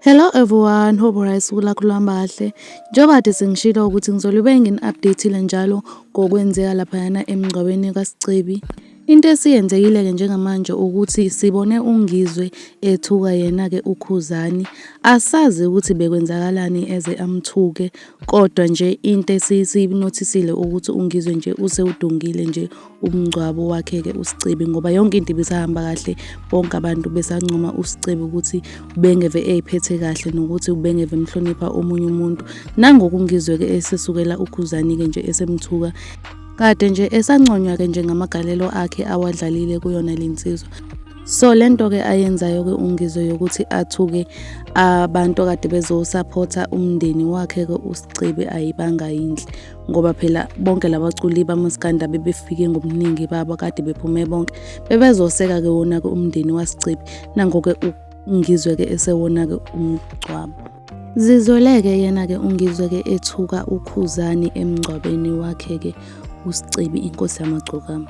Hello everyone, hope right sukula kulamba kahle. Njengoba kade sengishilo ukuthi ngizolube ngini-update-ile njalo ngokwenzeka laphayana emngcwabeni kaSicebi. Into esiyenzekile-ke njengamanje ukuthi sibone uNgizwe ethuka yena-ke uKhuzani. Asazi ukuthi bekwenzakalani eze amthuke kodwa nje into esiyinothisile ukuthi uNgizwe nje usewudungile nje umngcwabo wakhe-ke uSicebi ngoba yonke into ibisahamba kahle, bonke abantu besancoma uSicebi ukuthi ubengeve eyiphethe kahle nokuthi ubengeve emhlonipha omunye umuntu. Nangoku uNgizwe-ke esesukela uKhuzani-ke nje esemthuka. Kade nje esanconywa ke nje ngamagalelo akhe awadlalile kuyona le nsizwa. So le nto ke ayenzayo ke uNgizwe yokuthi athuke abantu kade bezosupporta umndeni wakhe ke uSicebe ayibanga yinhle ngoba phela bonke labaculi bamaskanda bebefike ngobuningi babo kade bephume bonke bebezoseka ke wona ke umndeni waSicebe nangoke uNgizwe ke esewona ke umgcwabo. Zizweleke yena ke ungizwe ke ethuka ukhuzani emngcwabeni wakhe ke usicebi inkosi yamagcokama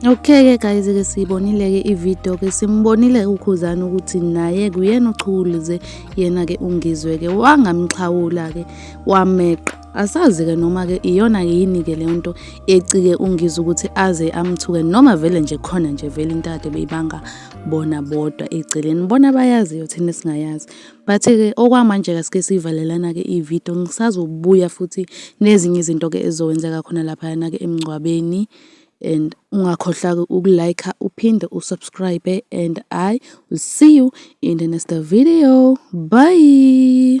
Okay-ke guys-ke siyibonile-ke ividiyo-ke simbonile ukhuzane ukuthi naye kuyena ochukulize yena-ke ungizwe-ke wangamxhawula-ke wameqa asazi-ke noma-ke iyona yini-ke leyo nto ecike ungiza ukuthi aze amthuke noma vele nje khona nje vele into ade beyibanga bona bodwa eceleni bona bayaziyo thina singayazi but-ke okwamanje-ke sike siyivalelana-ke ividiyo ngisazobuya futhi nezinye izinto-ke ezizowenzeka khona laphayana-ke emngcwabeni and ungakhohlaki uku-like uphinde usubscribe and i will see you in the next video bye